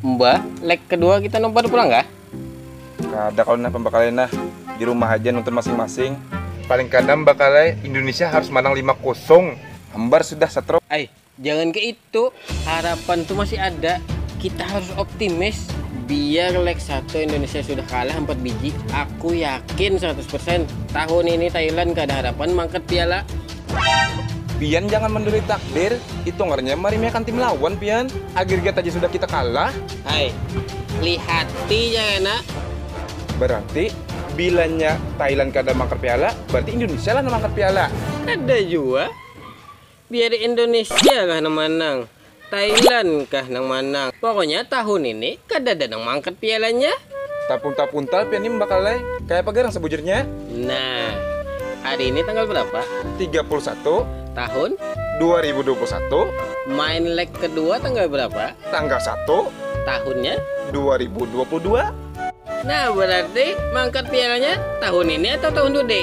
Mbah, leg kedua kita nobar pulang kah? Kada kalu nah pambakalai nah, di rumah haja nonton masing-masing. Paling kada mbakalai, Indonesia harus manang lima kosong. Hambar sudah satro. Ai, jangan kaya itu, harapan tu masih ada, kita harus optimis. Biar leg satu Indonesia sudah kalah ampat biji, aku yakin seratus persen tahun ini Thailand kada harapan mangkat piala. Pian jangan menduri takdir, itu ngarannya maremehkan tim lawan pian, agregat aja sudah kita kalah. Hai, lihati ja kena. Berarti bilanya Thailand kada mangkat piala, berarti Indonesia lah nang mangkat piala. Kada jua, biar Indonesia lah nang manang. Thailand kah nang manang. Pokoknya tahun ini kadada nang maangkat pialanya. Tapuntal puntal pian nih bakal ai, kaya apa garang sabujurnya? Nah, hari ini tanggal berapa? Tiga puluh satu. Tahun? Dua ribu dua puluh satu. Main leg kedua tanggal berapa? Tanggal satu. Tahunnya? Dua ribu dua puluh dua. Nah, berarti maangkat pialanya tahun ini atau tahun tude?